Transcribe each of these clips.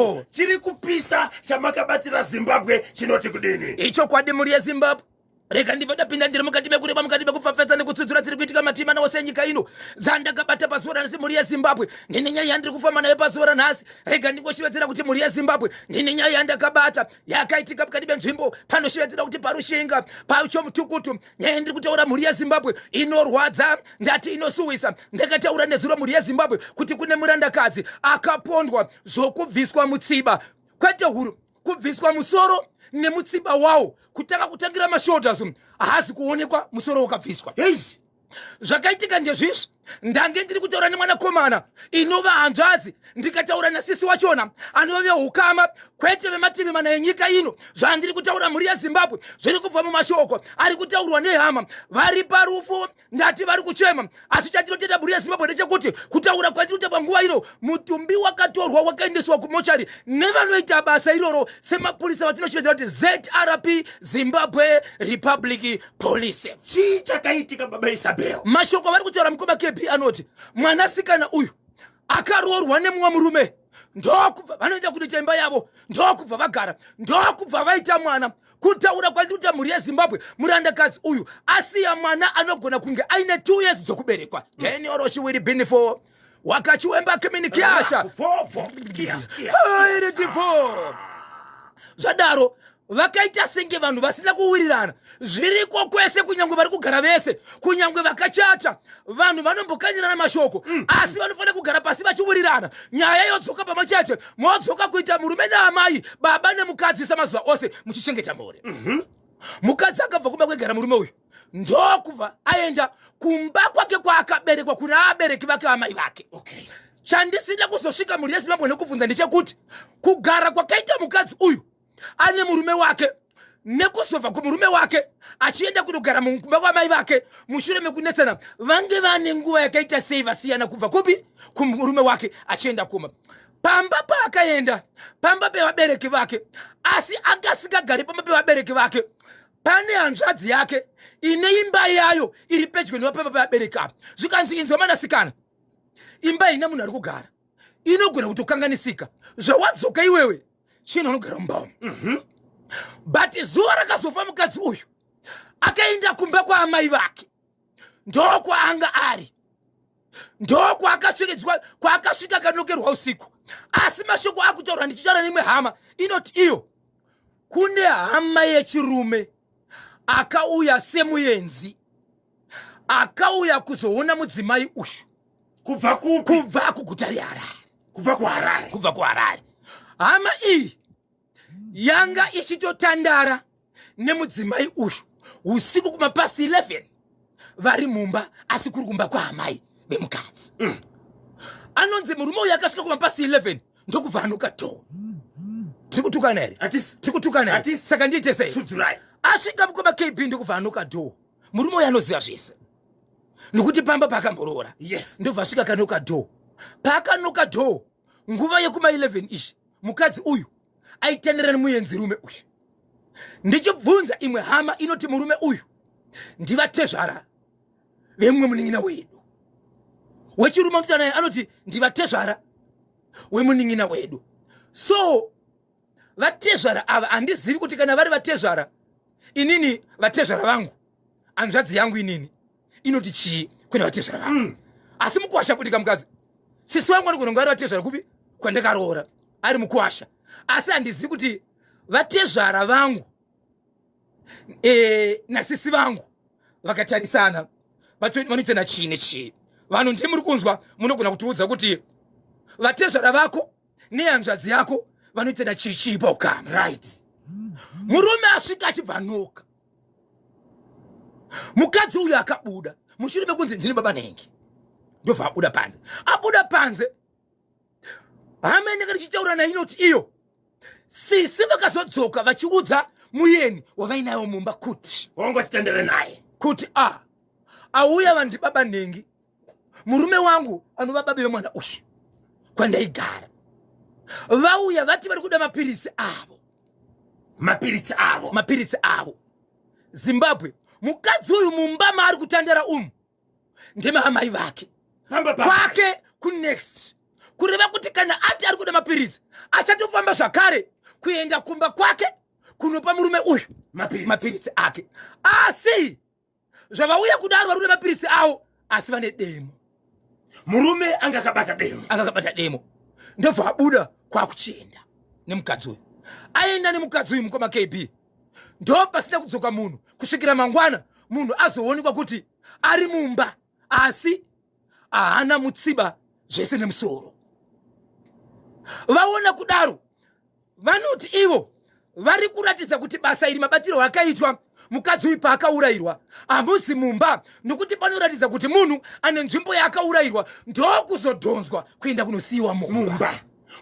Oh, chiri kupisa chamakabatira zimbabwe chinoti kudini ichokwadi mhuri yezimbabwe rega ndibva ndapinda ndiri mukati mekureba mukati mekupfapfadza nekutsudzura dziri kuitika matima nawo senyika ino dzandakabata pazuva ranhasi mhuri yezimbabwe ndine nyaya yandiri kufamba nayo pazuva ranhasi rega ndingoshevedzera kuti mhuri yezimbabwe ndine nyaya yandakabata yakaitika mukati menzvimbo panoshevedzera kuti parushinga pachomutukutu nyaya ndiri kutaura mhuri yezimbabwe inorwadza ndati inosuwisa ndakataura nezuro mhuri yezimbabwe kuti kune murandakadzi akapondwa zvokubviswa mutsiba kwete huru kubviswa musoro nemutsiba wawo kutanga kutangira mashoulders haazi kuonekwa musoro wakabviswa hei zvakaitika ndezvizvi ndange ndiri kutaura nemwanakomana inova hanzvadzi ndikataura nasisi wachona anova veukama kwete vemativi mana enyika ino zvandiri kutaura mhuri yezimbabwe zviri kubva mumashoko ari kutaurwa nehama vari parufu ndati vari kuchema asi chatinotenda mhuri yezimbabwe ndechekuti kutaura kwatinoita panguva ino mutumbi wakatorwa wakaendeswa kumochari nevanoita basa iroro semapurisa vatinoshevedzera kuti zrp zimbabwe republic polise chii chakaitika baba isabel mashoko avari kutaura mukoma kb anoti mwanasikana uyu akaroorwa nemumwe murume ndokubva vanoita kunoita imba yavo ndokubva vagara ndokubva vaita mwana kutaura kwandiri kuta mhuri yezimbabwe murandakadzi uyu asiya mwana anogona kunge aine two years dzokuberekwa then oroshi wiri bini for wakati wemba kimini kiasha iri divo zvadaro vakaita senge vanhu vasina kuwirirana zviriko kwese kunyange vari kugara vese kunyange vakachata vanhu vanombokanyirana mashoko mm. asi vanofanira kugara pasi vachiwirirana nyaya yodzoka pamwe chete modzoka kuita murume naamai baba nemukadzi samazuva ose muchichengeta mhuri mhm. mukadzi akabva kumba kwegara murume uyu ndokubva aenda kumba kwake kwaakaberekwa kuna abereki vake vamai vake okay. chandisina kuzosvika mhuri yezimbabwe nekubvunza ndechekuti kugara kwakaita mukadzi uyu ane murume wake nekuzobva kumurume wake achienda kunogara mukumba kwamai vake mushure mekunetsana vange vane nguva yakaita sei vasiyana kubva kupi kumurume wake achienda kuma pamba paakaenda pamba pevabereki vake asi akasikagari pamba pevabereki vake pane hanzvadzi yake ine imba yayo iri pedyo nevapapa peabereki apa zvikanzi inzwa manasikana imba ina munhu ari kugara inogona kuti ukanganisika zvawadzoka iwewe chino anogara mumba umu mhm. but zuva rakazofa mukadzi uyu akaenda kumba kwaamai vake ndokwaanga ari ndokwaakasvikedzwa kwaakasvika akanokerwa usiku asi mashoko akutaurwa ndichitaura neimwe hama inoti iyo kune hama yechirume akauya semuenzi akauya kuzoona mudzimai uyu kubva kubva kuguta reharare kubva kuharare kubva kuharare hama iyi yanga ichitotandara nemudzimai uyu usiku kumapasi 11 vari mumba asi kuri kumba kwaamai vemukadzi mm. anonzi murume uyu akasvika kumapasi 11 ndokubva anoka dho tiri kutukana here tiri kutukana here saka ndiite sei asvika mukoma kb ndokubva anoka dho murume uyu anoziva zvese nokuti pamba paakamboroora yes ndobva asvika kanoka dho paakanoka dho nguva yekuma 11 izvi mukadzi uyu aitenderana nemuenzirume uyu ndichibvunza imwe hama inoti murume uyu ndivatezvara vemumwe munin'ina wedu wechirume anotaura naye anoti ndivatezvara wemunin'ina wedu so vatezvara ava handizivi kuti kana vari vatezvara inini vatezvara vangu hanzvadzi yangu inini inoti chii kwenda vatezvara vako mm. asi mukwasha kudika mukadzi sisi wangu anogona kunge ari vatezvara kupi kwandakaroora ari mukwasha asi handizivi kuti vatezvara vangu e, nasisi vangu vakatarisana vanoita nachii nechii vanhu ndi muri kunzwa munogona kutiudza kuti vatezvara vako nehanzvadzi yako vanoita nachii chii paukama right murume asvika achibva noka mukadzi uyu akabuda mushure mekunzi ndini baba nhengi ndobva abuda panze abuda panze hama inenge ndichitaura nayo inoti iyo sisi vakazodzoka vachiudza muyeni wavainayo mumba kuti wangotitendere naye kuti a auya vandi baba nhengi murume wangu anova babe vemwana uyu kwandaigara vauya vati vari kuda mapiritsi avo mapiritsi avo mapiritsi avo zimbabwe mukadzi uyu mumba maari kutandara umu ndemaamai vake kwake kunext kureva kuti kana ati ari kuda mapiritsi achatofamba zvakare kuenda kumba kwake kunopa murume uyu mapiritsi ake asi zvavauya kudaro vari nemapiritsi avo asi vane demo murume anga akabata demo anga akabata demo ndobva abuda kwakuchienda nemukadzi uyu aenda nemukadzi uyu mukoma kb ndo pasina kudzoka munhu kusvikira mangwana munhu azoonekwa kuti ari mumba asi ahana mutsiba zvese nemusoro vaona kudaro vanoti ivo vari kuratidza kuti basa iri mabatirwo akaitwa mukadzi uyu paakaurayirwa hamuzi mumba nokuti panoratidza kuti munhu ane nzvimbo yaakaurayirwa ndokuzodhonzwa kuenda kunosiyiwa mumba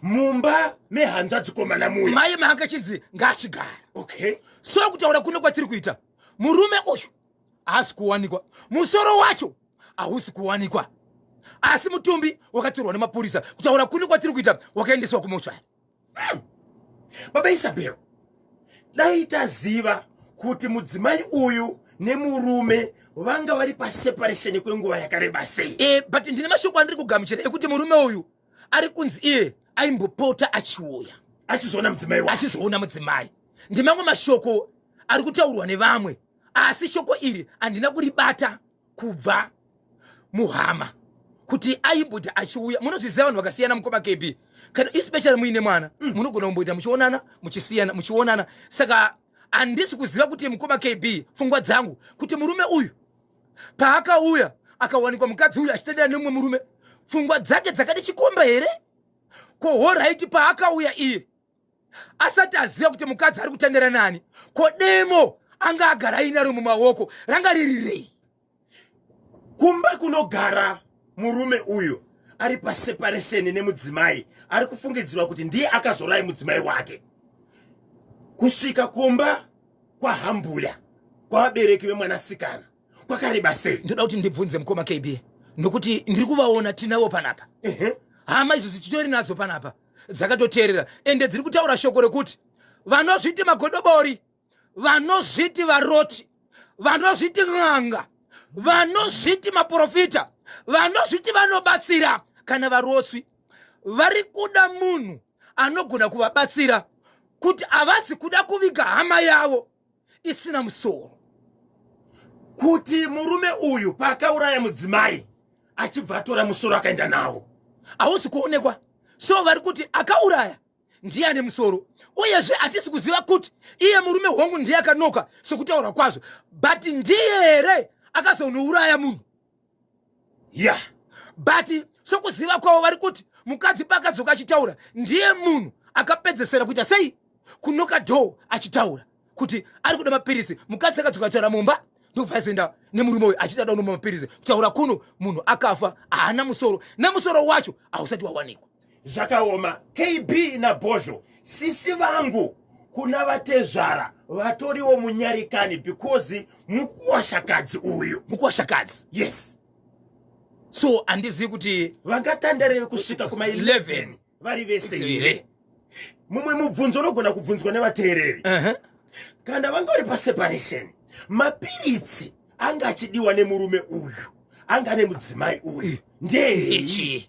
mumba mehanzvadzikomana muya maye maakachinzi ngaachigara okay so kutaura kuno kwatiri kuita murume uyu haasi kuwanikwa musoro wacho hausi kuwanikwa asi mutumbi wakatorwa nemapurisa kutaura kune kwatiri kuita wakaendeswa kumochari hmm. baba isabel dai taziva kuti mudzimai uyu nemurume vanga vari paseparation kwenguva yakareba sei e, but ndine mashoko andiri kugamuchira ekuti murume uyu ari kunzi iye aimbopota achiuya achizoona mudzimai achizoona mudzimai ndimamwe mashoko ari kutaurwa nevamwe asi shoko iri handina kuribata kubva muhama kuti aibhuti achiuya munozviziva vanhu vakasiyana mukoma kb kana especially muine mwana mm. munogona kumboita muchionana muchisiyana muchionana saka handisi kuziva kuti mukoma kb pfungwa dzangu kuti murume uyu paakauya akawanikwa mukadzi uyu achitendera nemumwe murume pfungwa dzake dzakati chikomba here ko horaiti paakauya iye asati aziva kuti mukadzi ari kutandara nani ko demo anga agara ainaro mumaoko ranga riri rei kumba kunogara murume uyu ari paseparesheni nemudzimai ari kufungidzirwa kuti ndiye akazorai mudzimai wake kusvika kumba kwahambuya kwavabereki vemwanasikana kwakareba sei ndoda kuti ndibvunze mukoma kb nokuti ndiri kuvaona tinavo panapa hama izvo zichitori nadzo panapa dzakatoteerera ende dziri kutaura shoko rekuti vanozviti magodobori vanozviti varoti vanozviti n'anga vanozviti maprofita vanozviti vanobatsira kana varotswi vari kuda munhu anogona kuvabatsira kuti havazi kuda kuviga hama yavo isina musoro kuti murume uyu paakauraya mudzimai achibva atora musoro akaenda nawo hausi kuonekwa so vari kuti akauraya ndiye ane musoro uyezve hatisi kuziva kuti iye murume hongu ndiye akanoka sokutaura kwazvo but ndiye here akazonouraya munhu ya yeah. but sokuziva kwavo vari kuti mukadzi paakadzoka achitaura ndiye munhu akapedzesera kuita sei kunoka dho achitaura kuti ari kuda mapiritsi mukadzi akadzoka achitaura mumba ndobva aizoenda nemurume uyu achiita daunoma mapiritsi kutaura kuno munhu akafa haana musoro nemusoro wacho hausati wawanikwa zvakaoma kb nabhozho sisi vangu kuna vatezvara vatoriwo munyarikani because mukuwashakadzi uyu mukuwashakadzi yes so andizivi kuti vangatandarevi kusvika kuma 11 vari vese here mumwe mubvunzo unogona kubvunzwa nevateereri uh-huh. kana vanga uri paseparation mapiritsi anga achidiwa nemurume uyu anga nemudzimai uyu ndeyechii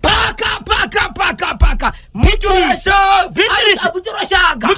paka paka paka paka mutorashanga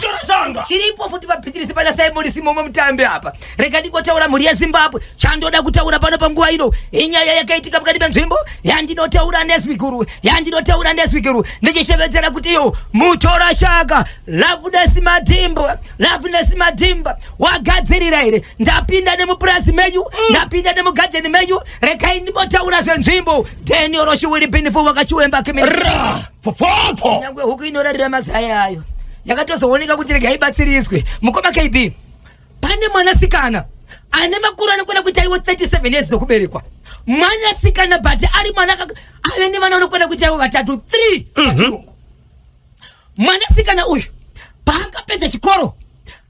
chiripo futi papitirisi pana simoni simomo mutambi apa rega ndingotaura mhuri yezimbabwe chandoda kutaura pano panguva ino inyaya yakaitika mukati menzvimbo yandinotaura neswiguru yandinotaura neswiguru ndichishevedzera kuti iyo mutorashanga lavunesi madhimba lavunesi madhimba wagadzirira here ndapinda nemupurasi menyu ndapinda nemugadheni menyu regai ndimbotaura zvenzvimbo Daniel Roshi will be for wakachiwemba kimira. Popopho. Nyangwe huku inorarira mazaya ayo. Yakatozooneka kuti rega ibatsiriswe. Mukoma KB. Pane mwanasikana ane makuru anokwana kuita iwo 37 years okuberekwa mwanasikana but ari mwana ave nevana anokwana kuita iwo vatatu 3 mhm. mwanasikana uyu paakapedza chikoro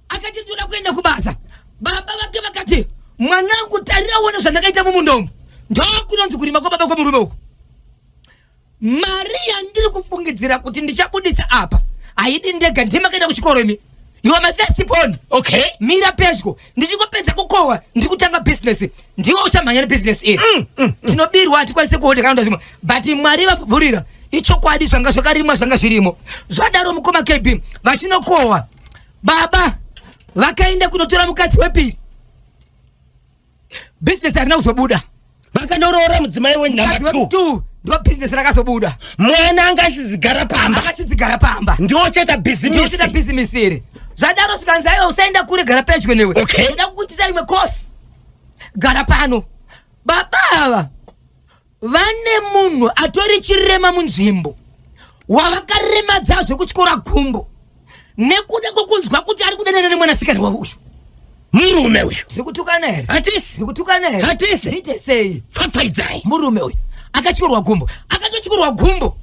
akati ndoda kuenda kubasa baba vake vakati mwanangu tarira uone zvandakaita mumunda umu ndokunonzi kurima kwababa kwemurume uku mari yandiri kufungidzira kuti ndichabuditsa apa haidi ndega ndima kaita kuchikoro imi you are my first born okay mira pedyo ndichingopedza kukohwa ndiri kutanga business ndiwo uchamhanya nebusiness iri mm, mm, mm. tinobirwa hatikwanise kuhodha kana ndazvimwe but mwari vavhurira ichokwadi zvanga zvakarimwa zvanga zvirimo zvadaro mukoma kb vachinokohwa baba vakaenda kunotora mukadzi wepiri business harina kuzobuda vakanoraora mudzimai wenumber ndo business rakazobuda mwana anga achizigara pamba akachizigara pamba ndiwo cheta bhizimisita bhizimisi iri zvadaro zvikanzi aiwa usaenda kure gara pedyo newe okay. kuda kukuitisa imwe course gara pano baba ava vane munhu atori chirema munzvimbo wavakaremadza zvekutyora gumbo nekuda kwekunzwa kuti ari kudanana nemwanasikana wavo uyu murume uyu tiri kutukana here hatisi tiri kutukana here Hatisi. ite sei pfapfaidzai murume uyu akatyorwa gumbo akatotyorwa gumbo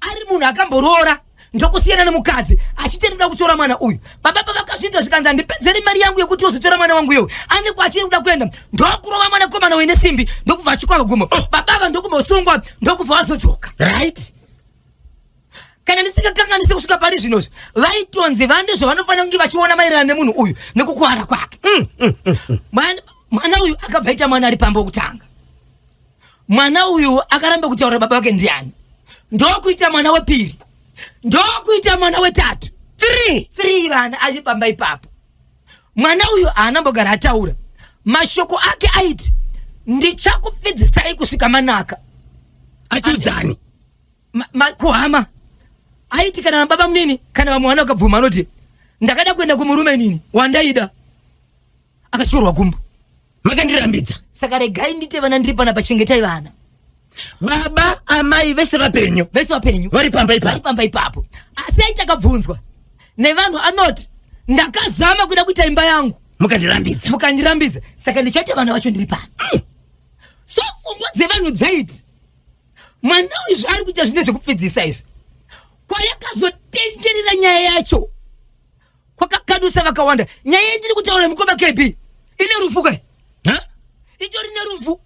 ari munhu akamboroora ndokusiyana nemukadzi achiti ndinoda kutora mwana uyu baba pavakazviita zvikanzi handipedzere mari yangu yekuti ozotora mwana wangu iyoyo anekwa achiri kuda kuenda ndokurova mwana komana uyu nesimbi ndokubva achikwaka guma oh. baba ava ndokubva usungwa ndokubva wazodzoka right kana ndisingakanganise kusvika pari zvinozvi vaitonzi vane zvavanofanira kunge vachiona maererano nemunhu uyu nekukuwara kwake mm, mm, mm, mwana uyu akabva ita mwana ari pamba okutanga mwana uyu akaramba kutaura baba vake ndiani ndokuita mwana wepiri ndokuita mwana wetatu three three vana achipamba ipapo mwana uyu haanambogara ataura mashoko ake aiti ndichakupfidzisai kusvika manaka achiudzani Ma- ma- kuhama aiti kana nababa munini kana vamwe vana vakabvuma anoti ndakada kuenda kumurume nini wandaida akatyorwa gumbo makandirambidza saka regai ndite vana ndiri pana pachengetai vana baba amai vese vapenyu vese vapenyu vari pamba ipapo vari pamba ipapo asi aita akabvunzwa nevanhu anoti ndakazama kuda kuita imba yangu mukandirambidza mukandirambidza saka ndichaita vana vacho ndiri pano mm. so pfungwa dzevanhu dzaiti mwana uyu zvaari kuita zvine zvekupfidzisa izvi kwayakazotenderera nyaya yacho kwakakadusa vakawanda nyaya yendiri kutaura mukoma kb ine rufu kai itori nerufu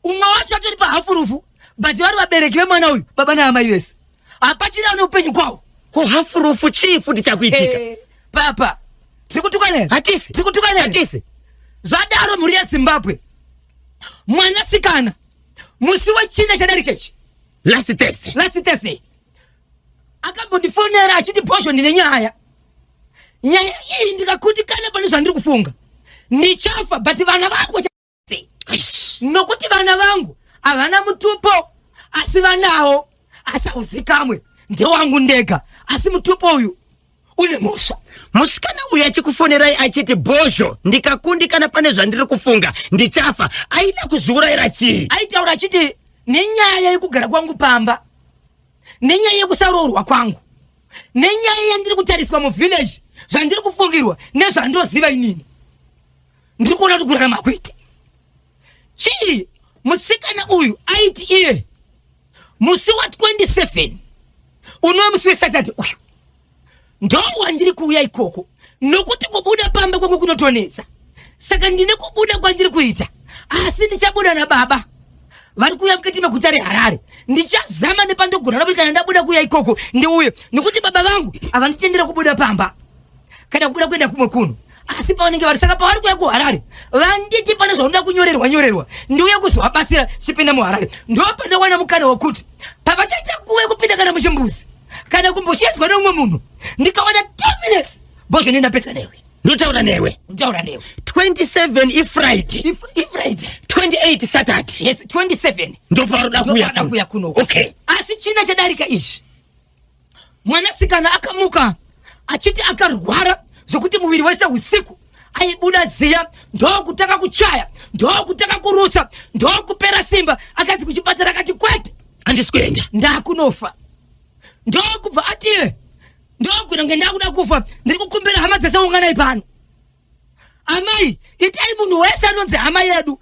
umwe wacho atori pahafu rufu but vari vabereki vemwana uyu baba naamai vese hapachiri ane upenyu kwawo ko hafu rufu chii futi chakuitika eh, papa tiri kutukanei hatisi tiri kutukanei hatisi zvadaro mhuri yezimbabwe mwanasikana musi wechina chadarikechi last thursday last thursday akambondifonera achiti bhozho ndine nyaya nyaya iyi ndikakundikana pane zvandiri kufunga ndichafa but vana vangu nokuti vana vangu havana mutupo asi vanawo asi hauzikamwe ndewangu ndega asi mutupo uyu une mhosva musikana uyu achikufonerai achiti bhozho ndikakundikana pane zvandiri kufunga ndichafa aida kuzviurayira chii aitaura achiti nenyaya yekugara kwangu pamba nenyaya yekusaroorwa kwangu nenyaya yandiri kutariswa muvillage zvandiri kufungirwa nezvandoziva inini ndiri kuona kuti kurarama kuite chii musikana uyu aiti iye musi wa 27 unova musi wesaturday uyu ndo wandiri kuuya ikoko nokuti kubuda pamba kwangu kunotonetsa saka ndine kubuda kwandiri kuita asi ndichabuda nababa vari kuuya mukati meguta reharare ndichazama nepandogona nokuti kana ndabuda kuuya ikoko ndiuye nokuti baba vangu havanditendera kubuda pamba kana kubuda kuenda kumwe kuno asi pavanenge vari saka pavari kuya kuharare vanditi pane zvaunoda kunyorerwa nyorerwa ndiuye kuzovabatsira chipinda muharare ndopanowana mukana wekuti pavachaita kuwe kupinda kana muchimbuzi kana kumboshedzwa neumwe munhu ndikawana t minutes bozvene ndapedza newe ndotaura newe ndotaura newe 27 ifriday ifriday 28 saturday yes 27 ndoparoda kuya kuno okay asi china chadarika izvi Mwanasikana akamuka achiti akarwara zvokuti muviri wese usiku aibuda ziya ndokutanga kuchaya ndokutanga kurutsa ndokupera simba akanzi kuchipatara akati kwete handisi kuenda ndakunofa ndokubva atiye ndokunenge ndakuda kufa ndiri kukumbira hama dzese unganai pano amai itai munhu wese anonzi hama yedu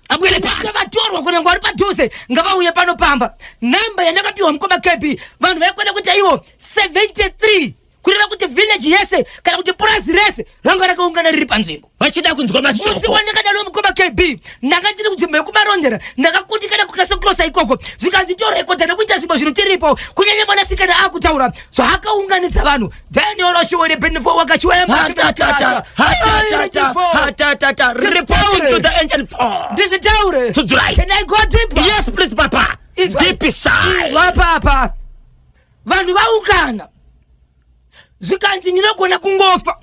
vatorwa kunenge vari padhuze ngavauye pano pamba nhamba yandakapiwa mukoma kb vanhu vaikwana kuita ivo 73 kureva kuti vhileji yese kana kuti purazi rese ranga rakaungana riri panzvimbo vachida kunzwa mamusi wandakadaro mukoma kb ndanga ndiri kunzvimbo yekumarondera ndakakundikana kukasa kurosa ikoko zvikanzi torekodha nekuita zvimbo zvinotiripo kunyanya mwanasikana akutaura zvaakaunganidza vanhu Then your Russia will be for Wakachwe. Hatatata, hatatata, hatatata. Reporting to the engine four. This is Taure. To dry. Can I go deeper? Yes, please, Papa. It's deep side. What, Papa? Vanhu vaungana. Zvikanzi ndinogona kungofa.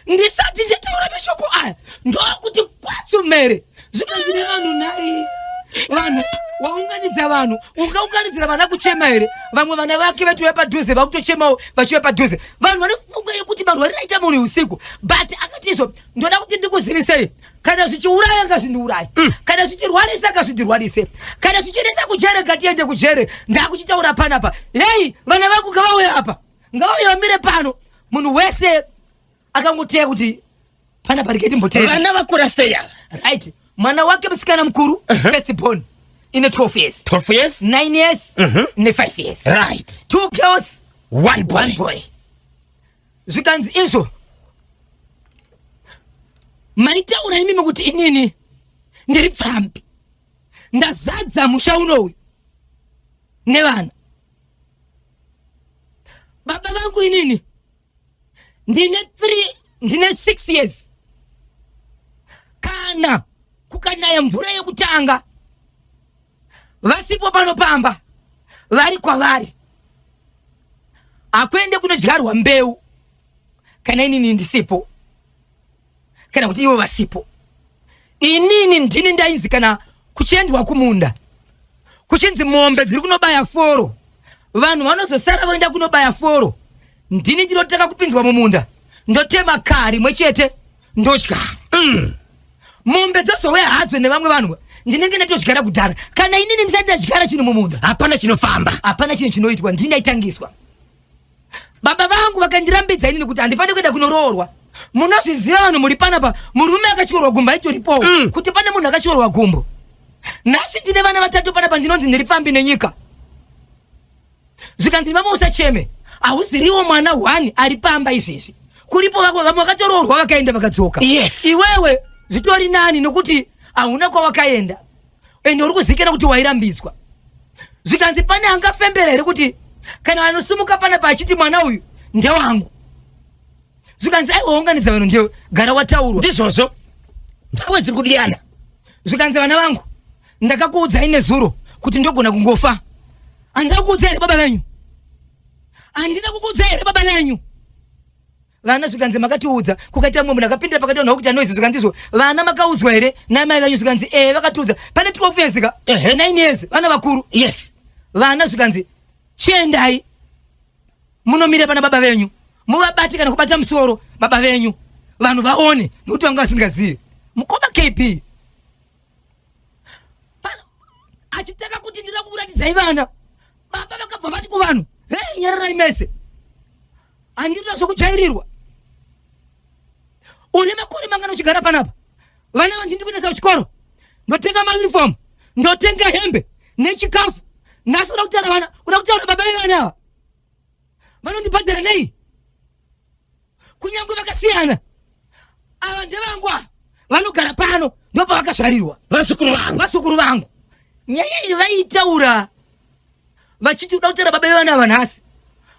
Ndisati nditaura mashoko aya. Ndokuti kwatsumere. zvikanzi nevanhu nhai vanhu waunganidza vanhu ungaunganidzira vana kuchema here vamwe vana vake vatiuya padhuze vakutochemawo vachiuya padhuze vanhu vane kufunga yekuti vanhu variraita munhu usiku but akatizvo ndoda kuti ndikuzivisei kana zvichiuraya ngazvindiuraye mm. kana zvichirwarisa ngazvindirwarise kana zvichiendesa kujere ngatiende kujere ndakuchitaura panapa hei vana vangu ngavauye apa ngavauye vamire pano munhu wese akangoteya kuti pana pariketi mboteya vana vakura seya right mwana wake musikana mukuru uh -huh. first born ine 12 years 12 years 9 years uh mhm. -huh. ne 5 years right two girls one boy, one boy. zvikanzi izvo maitaura imimi kuti inini ndiri pfambi ndazadza musha unowu nevana baba vangu inini ndine three ndine six years kana kukanaya mvura yekutanga vasipo pano pamba vari kwavari hakuende kunodyarwa mbeu kana inini ndisipo kana kuti ivo vasipo inini ndini ndainzi kana kuchiendwa kumunda kuchinzi mombe dziri kunobaya foro vanhu vanozosara voenda kunobaya foro ndini ndinotanga kupinzwa mumunda ndotema kaa rimwe chete ndodya mm. mombe dzozouya hadzo nevamwe vanhu ndinenge ndatodyara kudhara kana inini ndisati ndadyara chinhu mumunda hapana chinofamba hapana chinhu chinoitwa ndini ndaitangiswa baba vangu vakandirambidza inini kuti handifanire kuenda kunoroorwa munozviziva vanhu muri panapa murume akatyorwa gumbo aitoripowo mm. kuti pane munhu akatyorwa gumbo nhasi ndine vana vatatu panapa ndinonzi ndiri pfambi nenyika zvikanzi mama usacheme hauziriwo mwana one ari pamba izvezvi kuripo vako vamwe vakatoroorwa vakaenda vakadzoka yes. iwewe zvitori nani nokuti hauna kwawakaenda ende uri kuzikana kuti wairambidzwa zvikanzi pane angafembera here kuti kana anosumuka pana paachiti mwana uyu ndewangu zvikanzi aiwaunganidza vanhu ndewe gara wataurwa ndizvozvo ndawe ziri kudiyana zvikanzi vana vangu ndakakuudzai nezuro kuti ndogona kungofa andina kukuudzai here baba venyu andina kukuudzai here baba venyu vana zvikanzi makatiudza kukaita mumwe munhu akapinda pakati vanhu vakuita noise zvikanzizvo vana makaudzwa here namai vanyu zvikanzi ee eh, vakatiudza pane twelve years ka nine years vana vakuru yes vana zvikanzi chiendai munomira pana baba venyu muvabati kana kubata musoro baba venyu vanhu vaone nokuti vanga vasingazivi mukoma kp achitanga kuti ndira kuuratidzai vana baba vakabva vati kuvanhu hei nyararai mese Andinoda zvekujairirwa. Une makore mangana uchigara panapa? Vana vanji ndiri kuendesa kuchikoro. Ndotenga mauniform, ndotenga hembe nechikafu. Nhasi uda kutaura vana, uda kutaura baba vevana ava. Vanondibhadhara nei? Kunyange vakasiyana. Ava ndevangu ava. Vanogara pano ndopavakazvarirwa. Vazukuru vangu. Vazukuru vangu. Nyaya iyi vaitaura vachiti uda kutera baba vevana ava nhasi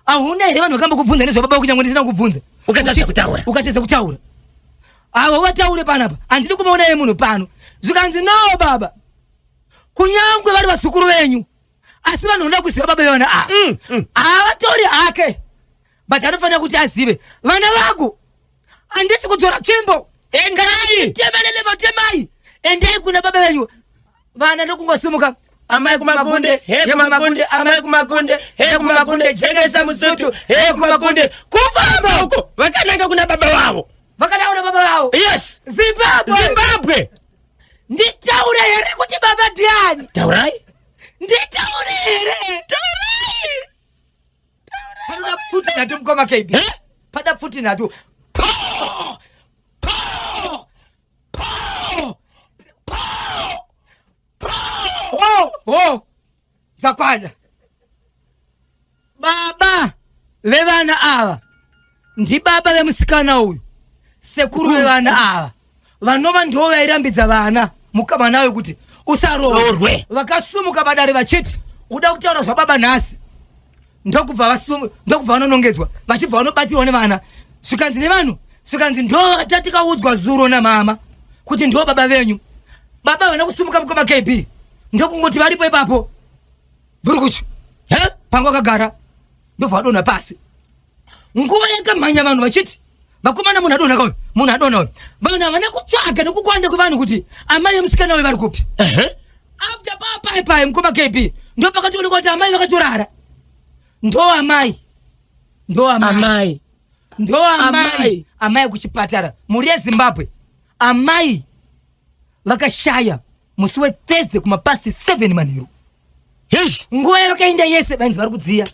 ahuna here vanhu vakamba kubvunza nezvababa vako nyangwe ndisina kubvunza ukatadza kutaura ukatadza kutaura avo vataure panapa handidi kumaona ye munhu pano zvikanzi no baba kunyangwe vari vasukuru venyu asi vanoda kuziva baba ivana ava mm, mm. havatori hake but anofanira kuti azive vana vangu handisi kudzora tsvimbo endai tema nelema temai endai kuna baba venyu vana ndokungosimuka amai kumakunde he kumakunde amai kumakunde he kumakunde jekesa musutu he kumakunde kufamba uko vakananga kuna baba vavo vakataura kuna baba vavo yes zimbabwe zimbabwe nditaure here kuti baba ndiani taurai nditaure here taurai Panoda pfuti nhatu mukoma KB. Eh? Pada pfuti nhatu. Pow! Pow! Pow! Pow! Pow! Oh, oh. Dzakwana. Baba vevana ava ndibaba vemusikana uyu sekuru vevana ava vanova ndivo vairambidza vana mukama nayo kuti usaroorwe vakasumuka padare vachiti uda kutaura zvababa nhasi ndokubva vanonongedzwa vachibva vanobatsirwa nevana zvikanzi nevanhu zvikanzi ndo tatikaudzwa zuro namama kuti ndo baba venyu baba vana kusumuka mukama kb ndokungoti varipo ipapo vhurikuchu he panga wakagara ndobva wadonha pasi nguva yakamhanya vanhu vachiti vakomana munhu adonaka uyu munhu adona uyu vanhu havana kutsvaga nekukwanda kwevanhu kuti amai vemusikana uyu vari kupi after papai pai mukoma kb ndo pakatooneka kuti amai vakatorara ndo amai ndo amai ndo amai amai kuchipatara mhuri yezimbabwe amai vakashaya musi wethursday kumapasti 7 manheru Hish! Nguva yavakaenda yese vainzi vari kudziya.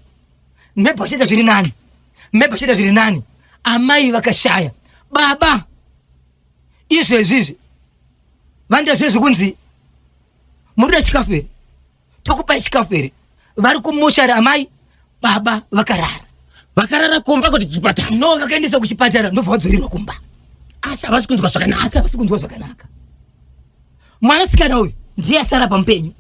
Mhebha vachiita zviri nani. Mhebha vachiita zviri nani. Amai vakashaya. Baba! Izvo izvizvi. Vanoita zviro zvekunzi. Muri kuda chikafu here? Tokupai chikafu here? Vari kumushari amai. Baba vakarara. Vakarara kumba kuti chipatara. No, vakaendeswa kuchipatara ndobva vadzoirwa kumba. Asi havasi kunzwa zvakanaka. Asi havasi kunzwa zvakanaka. mwanasikana uyu ndiye asara pamupenyu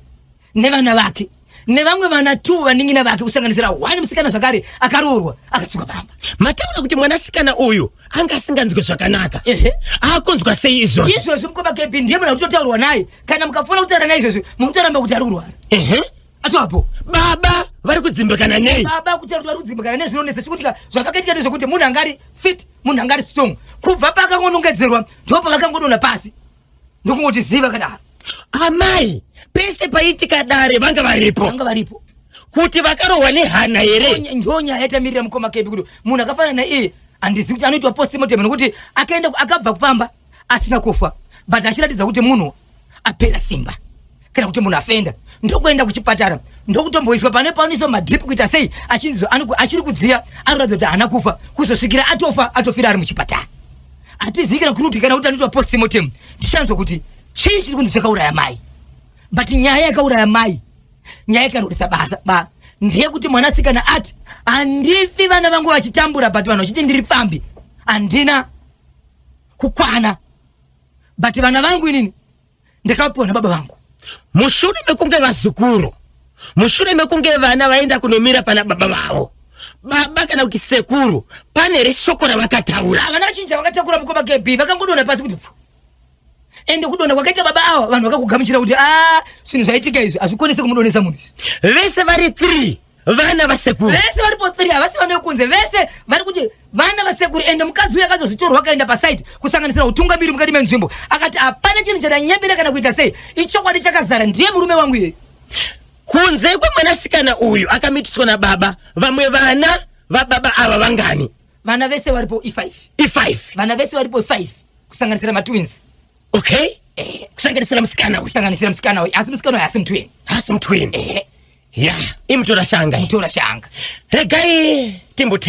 nevana vake nevamwe vana two vaningina vake kusanganisira one musikana zvakare akaroorwa akadzoka pamba mataura kuti mwanasikana uyu anga asinganzwe zvakanaka Ehe. akunzwa sei izvozvo izvozvi mukoma kb ndiye muna kutotaurwa naye kana mukafanira kutaura naye izvozvi mukutoramba kuti ari kurwara Ehe. atoapo baba vari kudzimbikana nei baba kutaura kuti ari kudzimbikana nezvinonetsa chikutika zvavakaitika nezvekuti munhu angari fit munhu angari strong kubva paakangonongedzerwa ndipo pavakangodona pasi ndokungoti ziva kadaro amai pese paitika dare vanga varipo vanga varipo kuti vakarohwa nehana here ndonya yaitamirira mukoma kedu kuti munhu akafanana naiye handizivi kuti anoitwa postmortem nokuti akaenda akabva kupamba asina kufa but achiratidza kuti munhu apera simba kana kuti munhu afenda ndokuenda kuchipatara ndokutomboiswa pane paoniswa madrip kuita sei achinzi achiri kudziya anoratidza kuti haana kufa kuzosvikira atofa atofira ari muchipatara hatizivi kana kuti kana kuti anoitwa postmortem tichanzwa kuti chii chiri kunzi chakauraya mai but nyaya yakauraya mai nyaya ikarurisa basa ba ndeyekuti mwanasikana ati handifi vana vangu vachitambura but vanhu vachiti ndiri pfambi handina kukwana but vana vangu inini ndakapiwa nababa vangu mushure mekunge vazukuru mushure mekunge vana vaenda kunomira pana baba vavo baba kana kuti sekuru pane here shoko ravakataura vana vachinji vakatakura mukoma kebi vakangodona pasi kuti pfu ende kudona kwakaita baba awa vanhu vakakugamuchira kuti a ah, zvinhu zvaitika izvi hazvikonese kumudonesa munhu izvi vese vari three vana vasekuru vese varipo three havasi vana vekunze vese vari kuti vana vasekuru ende mukadzi uyo akazozvitorwa akaenda paside kusanganisira utungamiri mukati menzvimbo akati hapana chinhu chadanyebera kana kuita sei ichokwadi chakazara ndiye murume wangu iyeyi kunze kwemwanasikana uyu akamitiswa nababa vamwe vana vababa ava vangani vana vese varipo ifive ifive vana vese varipo ifive kusanganisira matwins okay eh. kusanganisira musikana uyu kusanganisira musikana uyu asi musikana uyu asi mutwin asi mutwin eh. ya imutora shanga mutora shanga regai timbote